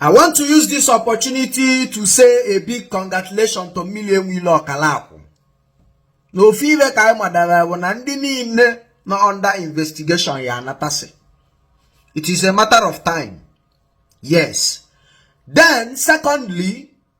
I want to use this opportunity to say a big congratulations to Mmiri Enweilo Ọkalakwụ na ofe ibe ka anyị madara bụ na ndị niile nọ under investigation ya-anatasị it is a matter of time yes then secondly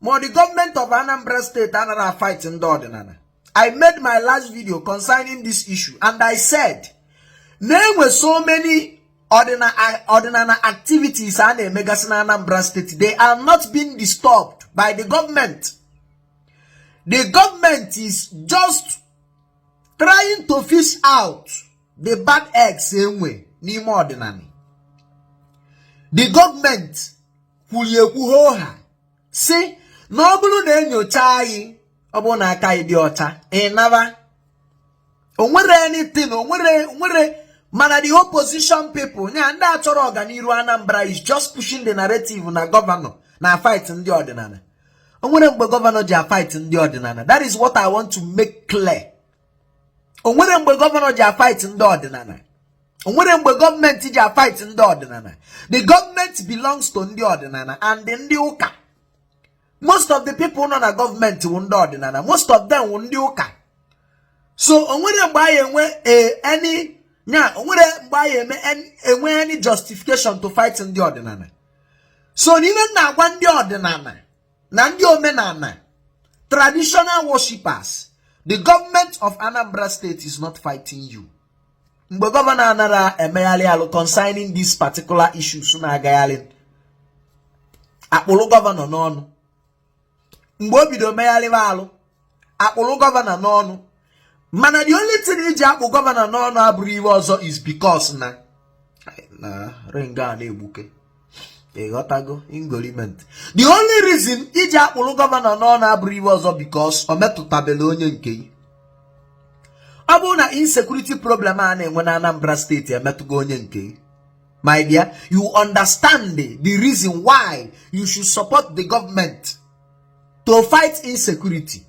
ma the government of Anambra State anara afight ndị ọdịnala I made my last video concerning this issue and I said na e nwe so many ọdịnala activities a na-emegasị na Anambra State they are not being disturbed by the government the government is just trying to fish out the bad eggs e nwe n'ime ọdịnala the government kwuru ekwu ha sị na ọ bụrụ na e nyochaa gị ọ bụrụ na aka gị dị ọcha ị naba onwere anything onwere onwere mana the opposition people nya ndị achọrọ ọganiru Anambra is just pushing the narrative na gọvanọ na-afight ndị ọdịnala onwere mgbe gọvanọ ji afight ndị ọdịnala that is what I want to make clear onwere mgbe gọvanọ ji afight ndị ọdịnala onwere mgbe gọọmenti ji afight ndị ọdịnala the government belongs to ndị ọdịnala and ndị ụka most of the people nọ na gọọmenti wụ ndị ọdịnala most of them wụ ndị ụka so onwere mgbe anyị enwe eh, any nya onwere mgbe a ya-enwe any justification to fight ndị ọdịnala so n'ihe m na-agwa ndị ọdịnala na ndị omenala traditional worshippers the government of Anambra State is not fighting you mgbe gọvanọ anara emegharị alụ concerning these particular issues na-agagharị a kpụrụ gọvanọ n'ọnụ mgbe o bido megharịba alụ a kpụrụ gọvanọ n'ọnụ mana the only thing i ji akpụ gọvanọ n'ọnụ abụrụ ihe ọzọ is because na na ring a na-egbuke ịghọtago ingoliment the only reason i ji akpụrụ gọvanọ n'ọnụ abụrụ ihe ọzọ because o metụtabela onye nke gị ọ bụrụ na insecurity problem a na-enwe na Anambra State emetụgo onye nke gị my dear you understand the reason why you should support the government to fight insecurity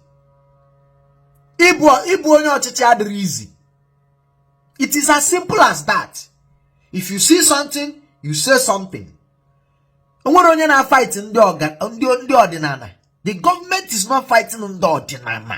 ịbụ ịbụ onye ọchịchị adịrị easy it is as simple as that if you see something you say something onwere onye na-afight ndị ọdịnala the government is not fighting ndị ọdịnala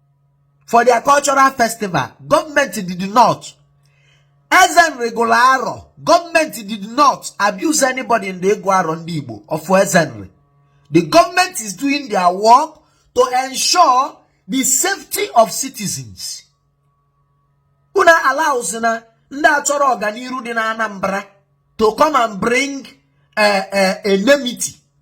for their cultural festival government did not Eze Nri gụrụ arọ government did not abuse anybody in the ịgụ arọ ndị igbo of Eze Nri the government is doing their work to ensure the safety of citizens unu allowzina ndị achọrọ ọganiru dị na anambra to come and bring a, eh, a, eh, a enmity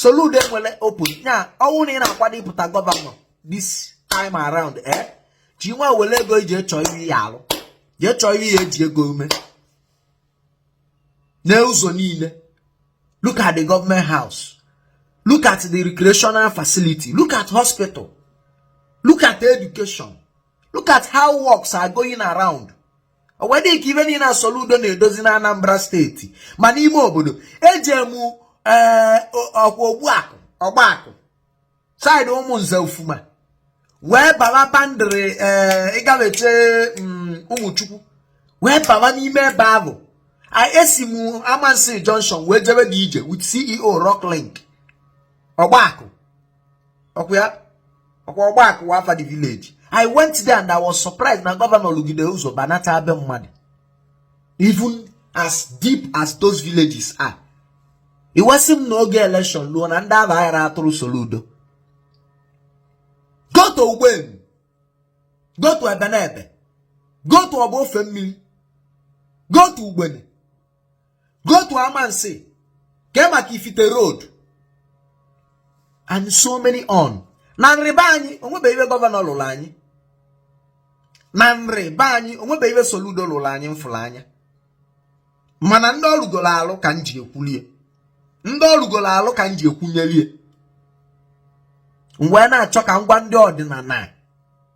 Soludo enwerọ opponent ọ bụrụ na ị na-akwado ịpụta gọvanọ this time around eh gị nwa were ego gị jee chọọ ihe ị ya-alụ jee chọọ ihe ị ya-eji ego eme n'ụzọ niile look at the government house look at the recreational facility look at hospital look at education look at how works are going around o wee dị ka ive niile a Soludo na-edozi na Anambra steeti ma n'ime obodo ejee mụ eh, ọkwa ogbuakụ ọgbaakụ side Umunze Ufuma wee baba boundary eh, ị gafechaa mm, ụmụchukwu wee baba n'ime ebe ahụ esi m amansi junction wee jebe the ije with ceo rock link ọgbaakụ ọkwa ya ọkwa ọgbaakụ wụ afa the village i went there and i was surprised na gọvanọ lụgide ụzọ banata be mmadụ even as deep as those villages are i wee sị m na oge election luo na ndị a ga-aghara atụrụ Soludo go to ugbenu go to ebenebe go to ọba ofemmili go to ugbene go to amansi kee maka ifite road and so many on na Nri be anyị o nwebe ive gọvanọ lụrụ anyị na Nri be anyị o nwebe ive soludo lụrụ anyị m fụrụ anya mana ndị ọ lụgoro alụ ka m ji ekwulie ndị ọ lụgoro alụ ka m ji ekwunyelie wee na-achọ ka m gwa ndị ọdịnala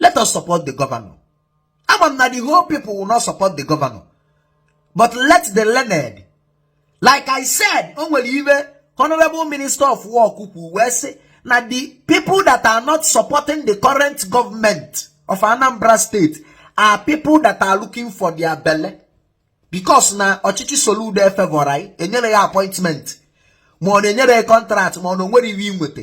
let us support the governor ama m na the whole people will not support the governor but let the learned like i said o nwere ive honorable minister of work kwu wee sị na the people that are not supporting the current government of anambra state are people that are looking for their belle because na ọchịchị soludo efevọrọ ya enyerọ ya appointment ma ọ na enyerọ ya contract ma ọ na o nwerọ ive o nweta